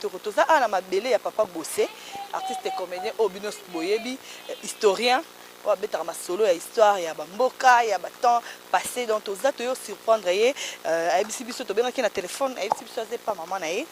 Toko toza awa na mabele ya papa Bosse, artiste comedien oyo bino boyebi, historien oyo abetaka masolo ya histoire ya ba mboka, ya ba temps passes, donc toza toye surprendre ye, ayebisi biso, tobengaki ye na telephone, ayebisi biso aza epa maman na ye,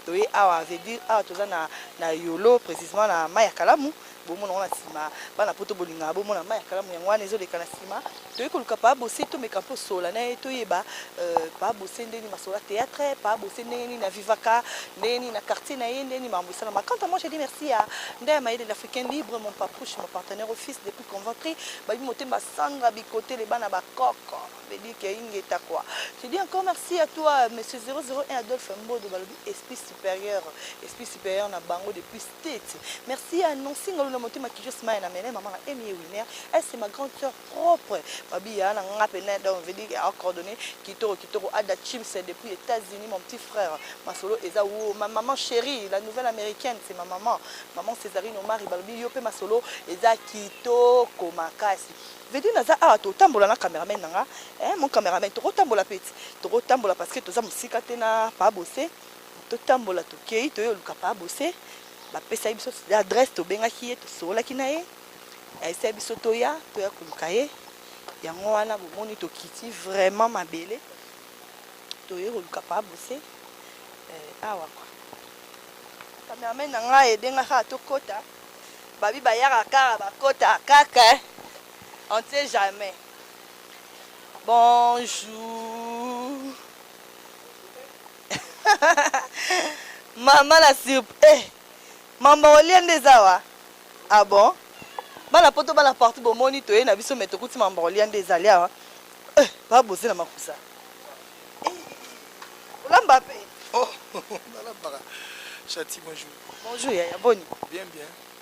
toye awa, veut dire awa toza na yolo, precisement na Mai ya Kalamu, Bomona ngo na sima bana poto bolingaka bomona mai ya kalamu yango wana ezoleka na sima toyei koluka paa bose tomeka mpe osola na ye toyeba euh, paa bose nde nini masola théâtre paa bose ndenge nini avivaka ndenge nini na quartier na ye ndenge nini makambo esalama quant à moi je dis merci ya nda ya mayele l'africain libre mon papouche mon partenaire office depuis conventry babi motemba sandra bikotele bana bakoko bebike ingeta quoi je dis encore merci à toi monsieur 001 adolphe mbodo balobi esprit supérieur esprit supérieur na bango depuis Tete merci ya Nancy ngalu na motema kijo smile na mele maman na Emie Winer elle c'est ma grande sœur propre babi ya na nga pena donc veut dire a coordonner kitoko kitoko ada chims depuis Etats-Unis mon petit frère masolo eza wo ma maman chérie la nouvelle américaine c'est ma maman maman Césarine Omari balobi yo pe masolo eza kitoko makasi veut dire naza awa to tambola na cameraman na nga eh mon cameraman toko tambola peti toko tambola parce que toza musika te na pa bosse Totambola tokei toye oluka pa bose bapesaki biso adresse tobengaki ye tosololaki na ye ayesaki biso toya toya koluka ye yango wana bomoni tokiti vraiment mabele toye koluka pa bose eh, awa kwa cameraman na ngai ebengaka tokota babi bayaka kaka bakota kaka eh. on sait jamais bonjour Maman la surp eh mamba olia nde eza awa ah bon bana poto bana partout bomoni toye na biso me tokuti mamba olia nde ezali awa eh ba boze na makusa olamba pe oh nalambaka chati bonjour bonjour yaya boni bien bien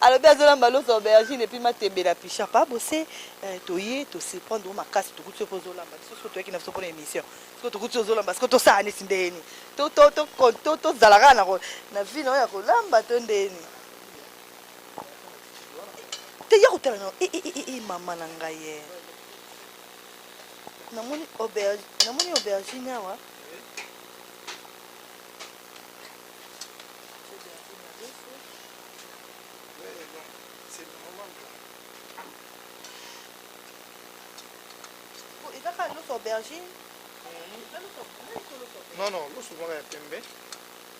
alobi azolamba loso aubergine epuis matembe na picha pa bose eh, toye tosurprendre o makasi tokuti soki ozolamba biso soki toyaki na biso mpona émission soki tokuti ozolamba soki tosala neti ndeni tozala kaka na vie na oyo ya kolamba to ndeni te ya kotala na eh, eh, eh, mama na ngai ye namoni namoni aubergine awa ezaka loso aubergine non non loso moko ya pembe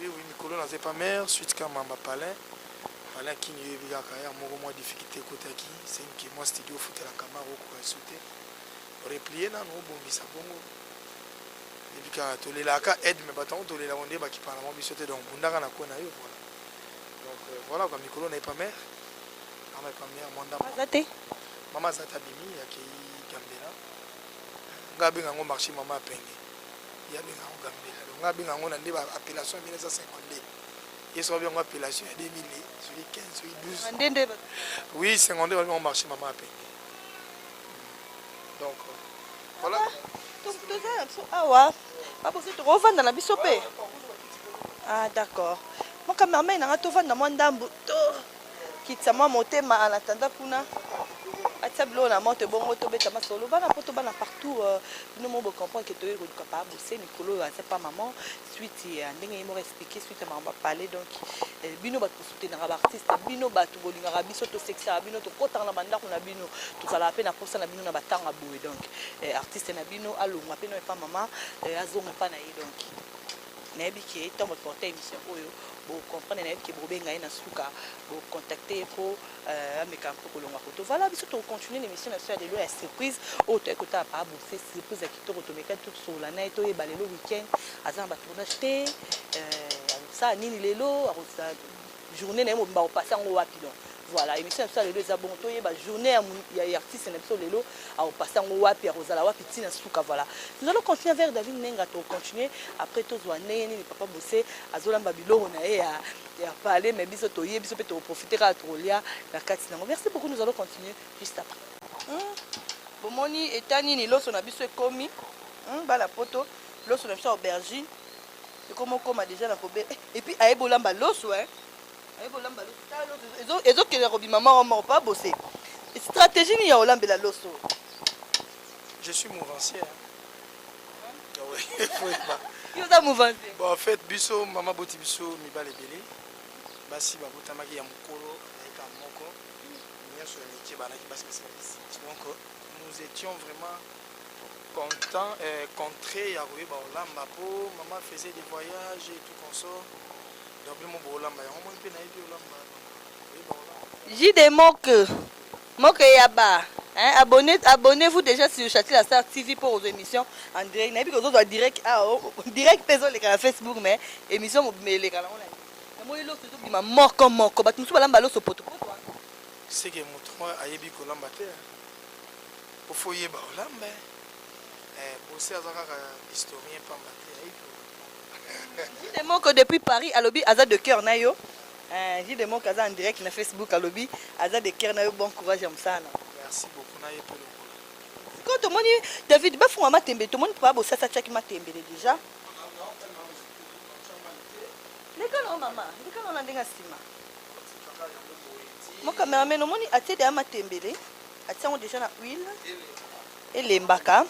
Oui oui mikolo naza epa mère suite ka mamba palin palin kin yoyebi kaka ya moko mwa difficulté ekotaki senke mwa studio ofutela kamara okoka esu te replie nano obongisa bongo yebi kaka tolelaka aide me bato yango tolela ngo nde bakipana mwa biso te donc bundaka na kwe na yo voilà donc euh, voilà kwa mikolo na epa mère ama epa mère mwa ndambo aza te mama aza te abimi akei gambela nga abenga yango marché mama apenge Ye abenga yango Gambela. Donc nga abenga yango na nde ba appellation ya 1952. Ye soki abenga yango appellation ya 2000 soki 15 soki 12. Nde nde ba. Oui 52 ba benga yango marche mama apenge. Donc voilà. Toza na biso awa. Ba bozo tokovanda na biso pe. Ah d'accord. Mon cameraman nanga tovanda mwa ndambu to. kitisa mwa motema en attendant kuna atia biloko na moto ebongo tobeta masolo bana poto bana partout euh, bino mo bocomprendre ke toyei koluka pa bose mikolo oyo aza pa maman suite ya ndenge ye moko expliqué suite ya makambo apale donc euh, bino bato bosutenaka baartiste bino bato bolingaka biso tosekisaka bino tokotaka na bandako na bino tozalaka mpe na mposa na bino na batanga boye donc euh, artiste na bino alongwa mpe no epa mama azonga epa na ye donc Nayebi ke tango bo porter emission oyo bo comprendre nayebi ke boko benga ye na suka bo contacter ye po euh, ameka un peu kolongwa koto voilà biso toko continuer na emission na biso ya lelo ya surprise oyo toyaki kotala papa bose surprise ya kitoko tomekaki to tosolola na ye toyeba lelo week-end aza na ba tournage te euh, akosala nini lelo akozala Journee naye mobimba ako passer yango wapi donc? Voilà emission na biso ya lelo eza bongo toyeba journee ya mu ya artiste na biso lelo ako passer yango wapi ako zala wapi ti na suka voilà. Nous allons continuer avec David Nenga to continuer après tozua ndenge nini papa Bosse azo lamba biloko na ye ya ya palais mais biso toye biso pe toko profiter kaka toko lia na kati nango. Merci beaucoup nous allons continuer juste après. Hum bomoni etat nini loso na biso ekomi hum bana poto loso na biso ya aubergine Ekomo koma deja na kobe eh, et puis aye bolamba loso hein. Aye bolamba loso tala loso ezo ezo kende kobima moko moko pas bosser. Stratégie ni ya olambela loso. Je suis mouvancier. Hein. Ah oui, faut pas. Yo za mouvancier. Bon en fait biso mama boti biso mibale belé. Basi babotamaki ya mukolo na eka moko. Nyoso ya mikie banaki basi basi basi. Donc nous étions vraiment Content eh contre ya koyeba kolamba po maman faisait des voyages et tout consort donc bino moko bokolamba yango moi mpe nayebi kolamba koyeba kolamba. JD Moke Moke ya ba hein abonne abonnez vous dejà sur Chati la Star TV mpo kozwa emission en direct nayebi ke ozozwa direct awa direct mpe ezoleka na Facebook mais emission mobimba eleka nango na namoni loso ezobima moko moko bato mosusu balamba loso potopoto wana. Seke moto yango ayebi kolamba te hein. Faut faut yeba olamba hein. Eh Bosse aza kaka historien pamba te ayebi kolamba. Jude Moko depuis Paris alobi aza de cœur na yo. Eh Jude Moko aza en direct na Facebook alobi aza de cœur na yo bon courage ya musala na yo. Merci beaucoup na ye pe lokola. Sikoyo tomoni David bafunga matembe tomoni papa Bosasa atiaki matembele deja. Leka na yo mama, leka na yo na ndenge ya nsima. Mon cameraman omoni atie deja matembele. Atie yango deja na huile elembaka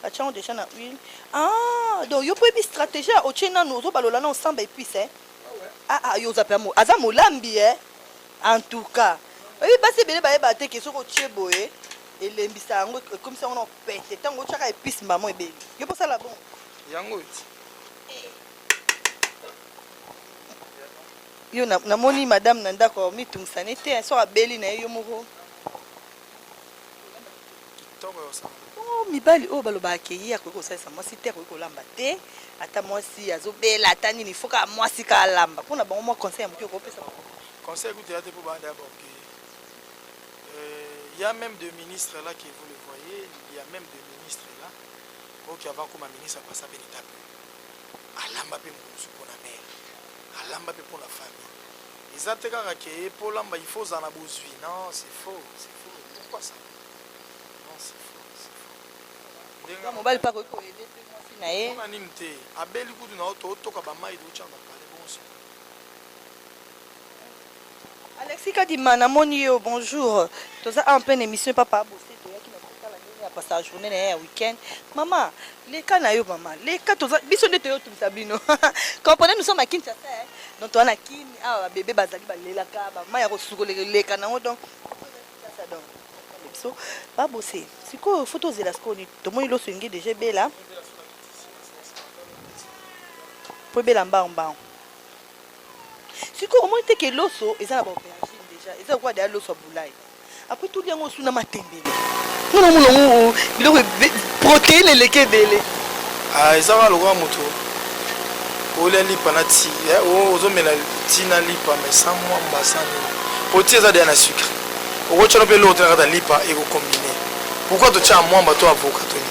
atie yango deja na huile ah, donc yo mpo oyebi stratégie ya otie nanu ozobalola na osamba epuise eh? ah, ah, yo oza mpe aza molambi eh? en tout cas oyebi basi ebele bayeba te ke soki otie boye elembisa yango ekomisi yango na pete ntango otyaka epuise mbamo ebeli yo mposala bongo yango eti Yo na, na moni madame na ndako mi tungisa ne te so abeli na ye yo moko. Kitoko ya osala. Oh, mibali oyo oh, baloba akeyi akoki kosalisa mwasi te akoki kolamba te ata mwasi azobela ata nini foka mwasi ka alamba mpo na bango mwa conseil ya moke okopesa conseil kutu ya te mpo banda ya baoke euh, ya même de ministre là que vous le voyez il y a même de ministre là oyo qui avant koma ministre apasa mpe litape alamba mpe mokomosu mpo na mare Alamba pe pona famille eza te kaka ke po olamba il faut ozala na bozui non c'est faux c'est faux pourquoi ça non c'est faux c'est faux ndenge ya mobali pe akoki ko aider pe mwasi na ye pona nini te abeli kutu na yo to toka ba mayi to tia na Alexis kadima na moni yo bonjour toza awa en pleine emission papa abose toyaki na kotala ndenge ya pasa journee na ye ya weekend mama leka na yo mama leka toza biso nde toyo tumisa bino comprenez nous sommes à Kinshasa hein? donc toza na kin awa ba bebe bazali balelaka ba mama ya kosukoleka leka na yango donc donc biso babose sikoyo fo tozela sikoyo nini tomoni loso enge deja ebela po ebela mbango mbango sikoyo omoni te ke loso eza na baaubergine deja eza lokola deya loso ya bulai apres toli yango osu na matembele mpo namona yango biloko proteine eleki ebele ah, eza kaka lokola moto olia lipa na ti eh, ozomela ti na lipa mai sa mwa mbasani mpo ti eza deya na sucre okotyano mpe eloko te na kata lipa ekokombine pourkui totya mwamba to avoka toni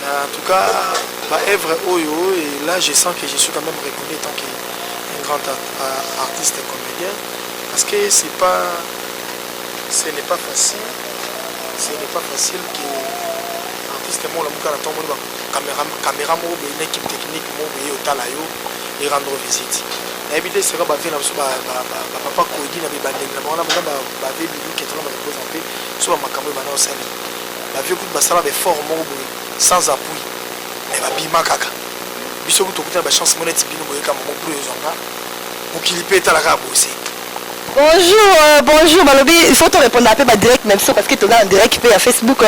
En tout cas ba œuvres oyo et là je sens que je suis quand même reconnu en tant que un grand artiste et comédien parce que c'est pas ce n'est pas facile ce n'est pas facile que artiste moko na mokala ntango moni bakamera kamera moko boye na équipe technique moko boye otala yo e rendre visite nayebi te seka bavie na biso bapapa koyedi na bibandeli na bango na bango bavie biluki etala bakokoza mpe so bamakambo oyo bana osali ba vieux kutu basala ba effort moko boye sans appui mais ba bima kaka biso kutu tokuti na ba chance moko neti bino boye kaka moko bro ezwa nga mokili pe etala kaka boye se Bonjour, euh, bonjour, Balobi, il faut te répondre après ma direct même ça parce que tu es en direct, puis à Facebook.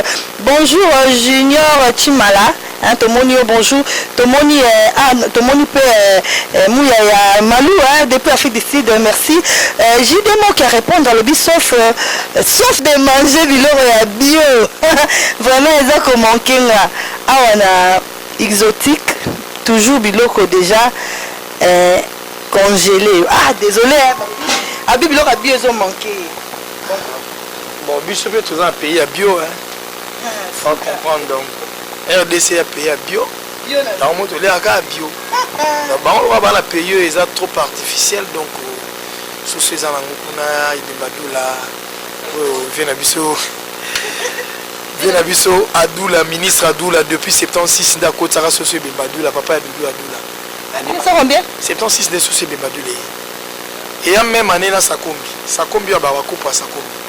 Bonjour, euh, Junior Chimala. Hein tomoni yo bonjour tomoni eh, ah, tomoni pe eh, eh, muya ya malou hein, depuis Afrique du Sud merci eh, JD Moki a répondre alobi sauf euh, sauf de manger biloko ya bio vraiment eza ko manquer nga awa na exotique toujours biloko déjà eh, congelé ah désolé hein, abi biloko ya bio ezo manquer bon biso pe toza na pays ya bio hein, sans comprendre donc rdc ya pays ya bio yango moto oleka kaka bio na bango lokola bana pays oyo eza trop artificiel donc susu eza nango kuna idembadula oyo vie na biso vie na biso adula ministre adula depuis 76 nde akotisaka soso ebemba adula papa ya dudu adula 76 nde soso ebemba adula ye eya meme année na sakombi sakombi oyo babakupa sakombi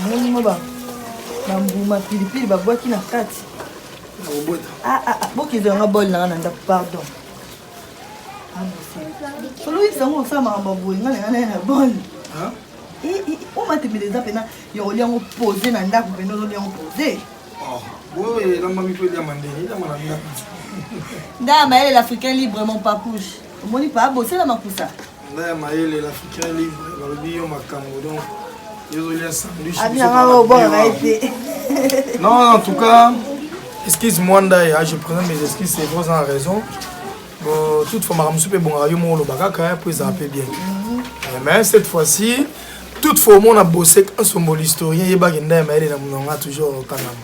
amoni mo bambuma pilipili babwaki na kati ah, ah, ah, bokende yanga bol nanga na ndako pardon soloyisa yango osala makambo boye nga nanga naye na bol omatembele eza mpena yokoli yango pose na ndako mpena ozoli yango pose oh, boye elambami mpo eliama ndenge eliama na ndako nda mayele l'africain librement pas couche omoni pa bosela makusa nda ya mayele l'africain livre balobi yo makambo donc yozolia sandwich abinaobonga ye te non en tout cas excuse moi ndaya je présente mes excuses c'est vrai oza na raison bon toute fois makambo mosusu mpe ebongaka yo moko oloba kaka mpo ezala mpe bien mhm. eh, mais cette fois-ci toute fois omona bosek ensomboli historien yebaki ndaya mayele na mononga toujours okangama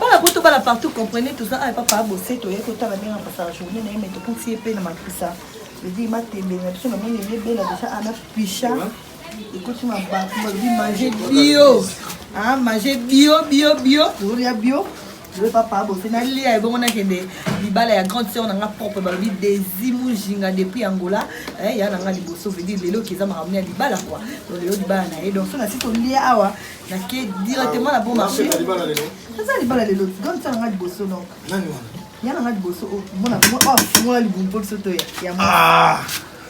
bana poto bana partout comprenez toza awa papa abose toye kotala ndenge akosala journée na ye me tokuti ye mpe na makusa edi matembe na biso namoni ebebela deja ana picha ekoti mabato balobi mange bio mange bio bio bio tolia bio Joe papa bosi nalia ebongo nakende libala ya grande sœur na nga propre balobi desi mujinga depuis angola eh, ya na nga liboso veut dire lelo kieza makambo ya libala quoi donc lelo libala na ye donc so nasi kolia awa nake directement na bon marché eza libala lelo grande sœur na nga liboso donc ya na nga liboso oh, mona afungola libumu mpo biso toya ya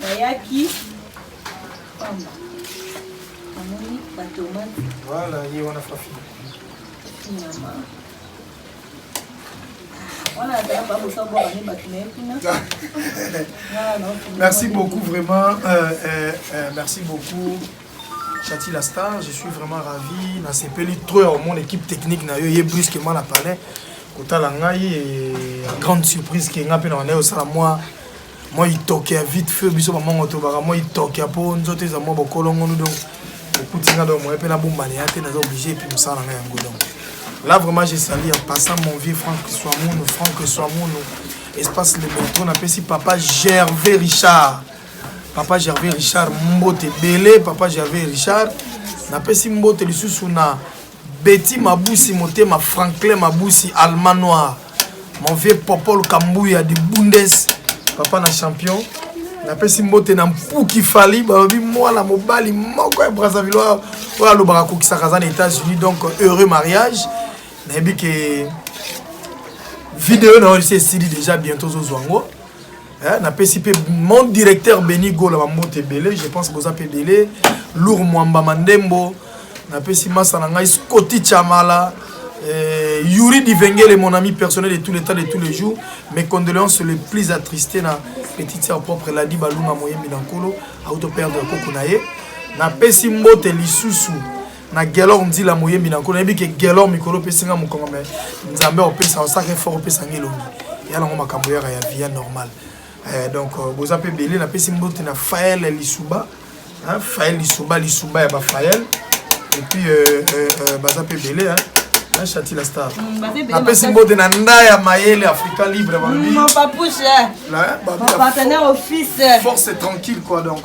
Nayaki pamba. Namoni ba tomate. Voilà, ye wana fafi. Nyama. merci beaucoup vraiment euh, euh, euh, merci beaucoup Chati la star je suis vraiment ravi nasepeli trop ya mon équipe technique na yo ye brusquement na palais kotala ngai grande surprise ke ngai mpe na wana osala mwa mwa itoke ya vite feu biso bamongo tolobaka mwa itoke ya mpo nzoto eza mwa bokolongonu donc okuti nga donc moye mpe nabombana ya te naza oblige epuis mosala na ngai yango donc là vraiment je sali en passant mon vieux frank swamunu frank swamunu espace le metro napesi papa gervais richard papa gervais richard mbote ebele papa gervais richard napesi mbote lisusu na Betty Mabusi motema Franklin Mabusi Allemand noir mon vieux Popol Kambuya du Bundes papa na champion napesi mbote na mpuki fali balobi mwana mobali moko ya brazzaville oyo alobaka akokisaka aza na états-unis donc heureux mariage nayebi ke video na oyo esi esili déjà bientôt ozozwa yango Eh, napesi mpe mon directeur beni gola bambote ebele je pense boza mpe ebele lour mwamba mandembo napesi masa na ngai scoti chamala eh, yuri divengele mon ami personnel de tous les temps de tous les jours mes condoléances le plus attristé na petite sœur propre ladi balunga moyembi na nkolo auto perdre koko na ye napesi mbote lisusu na gelor nzila moyembi na nkolo nayebi ke gelor mikolo opesi nga mokongo me nzambe opesa osaka effort opesa nga elongi ya nango makambo yaka ya via normal eh, donc euh, boza mpe ebele napesi mbote na fael lisuba fael lisuba lisuba ya bafael epuis euh, euh, baza mpe ebele na chati la star mm, napesi mbote na nda ya mayele africain libre balobi mm, force tranquille quoi donc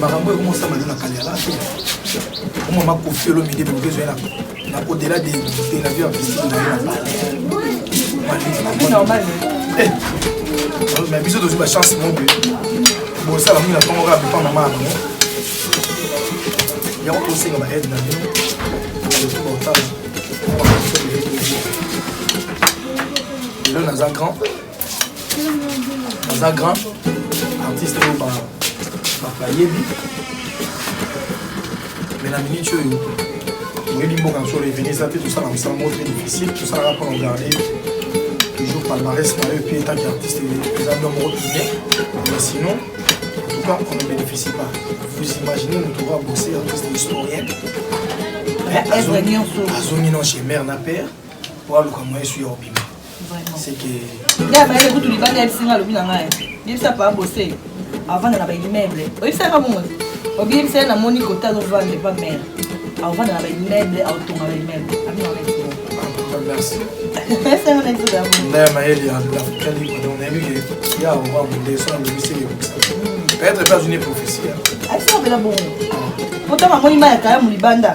makambo oyo mosama nde na kaliala omo makofi olomide bebezo yana na au-delà de, de la vie artistique na ye na palais eh, mais biso tozwi bachance moke bosala mingi na ntongo kaka papa mama ya bango yango tosenga baaide na bino aloki baotala lelo naza grand aza grand artiste oyo bayebi mais na minute oyo oyebi mboka na biso reveni eza te tosala mosala moko très difficile tosalaka mpo na garde toujours palmarès na yo epuis etanke artiste eza bino moko tourne mais sinon en tout cas on ne bénéficie pas vous imaginez moto oyo abose artiste historien azongi non chez mare na père mpo aluka moyen su ya obima nde abayele kutu libanda yebisi nga alobi na ngai yebisa paa bose avanda na baimmeuble oyebisaka bongo obiyebisa ye namoni kota azovanda epa mare avanda na baimmeuble aotonga baimmeuble mayele ya afrika libre donc nayebi ke ya oba monde so alobisi ekokisa peut-être mpe azwi ne prophesie aisabela bongo potama amoni mai ya kaya molibanda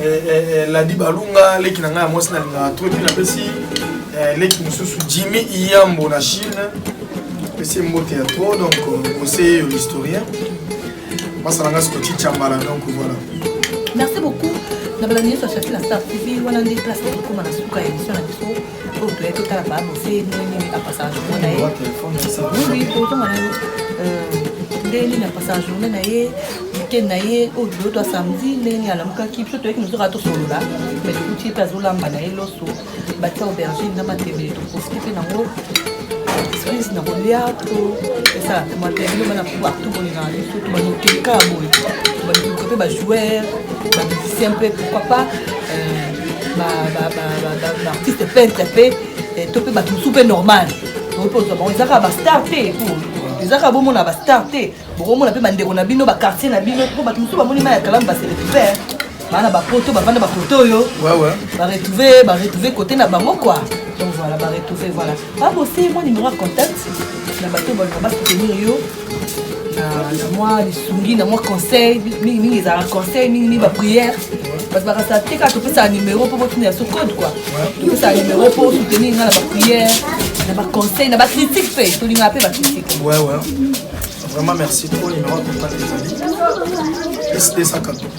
Eh, eh, eh, ladi balunga leki na ngai ya mwasi nalingaka to ti napesi leki mosusu jimmy iyambo na chine pesi mbote ya tro donc conseiller yo l'historien basala ngai sikoti chambala donc voilà merci beaucoup na balandi nyonso ya shafi na star tv wana nde place ekokoma na suka ya émission na biso oyo toyei totala babose nini apasaka journée na ye oui totanga na yo ndenge nini apasaka journée na ye weekend na ye oyo lelo twa samedi ndenge nini alamukaki biso toyeki nozoka tosolola mai tokuti ye mpe azolamba na ye loso batia aubergine na matembele toprofite mpe nango esprise na kolia to esala mpe matembele bana partout bolingaka biso tobanokeka boye baluka mpe bajoueur bamusicien mpe pourquoi pas euh, baartiste peintre mpe eh, to mpe bato mosusu mpe normal okozwa eza kaka bastar te eza kaka bomona bastar te bokomona mpe bandeko na bino bakartier na bino mpo bato mosusu bamoni mai ya kalamu baseletife baa na bapoto bavanda bakote oyo baretrouve baretrouve kote na bango kua donc voilà baretrouve voilà baboseye mwa nimero ya contact na bato baluka basoutenir yo na mwa lisungi na mwa conseil mingimingi ezalaka conseil mingimingi baprière bato bakasa te kaka topesaka nimero mpo botuna ya so code kua topesaka nimero mpo osoutenir nga na baprière na baconseil na bacritique mpe tolingaka mpe bacritique vraiment merci trop numéro ya contact ezali plus 214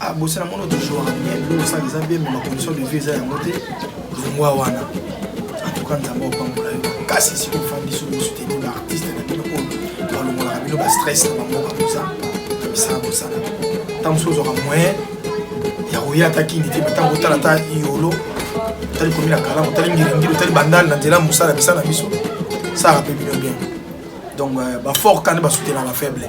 Ah, bosi na mono tozwaka bien biloko osala eza bien ma condition de vie eza yango te longwa wana antuka nzambe opambola yo makasi esika ofandi soki osuteni ba artiste na bino oyo balongolaka bino ba stress na bamboka boza na misala bosala ntango mosusu ozwaka moyen ya koya ata kini te ntango otala ata yolo otali komi na kalamu otali ngiringiri otali bandale na nzela ya mosala misala na biso salaka mpe bino bien donc euh, bafort kani basutenaka faible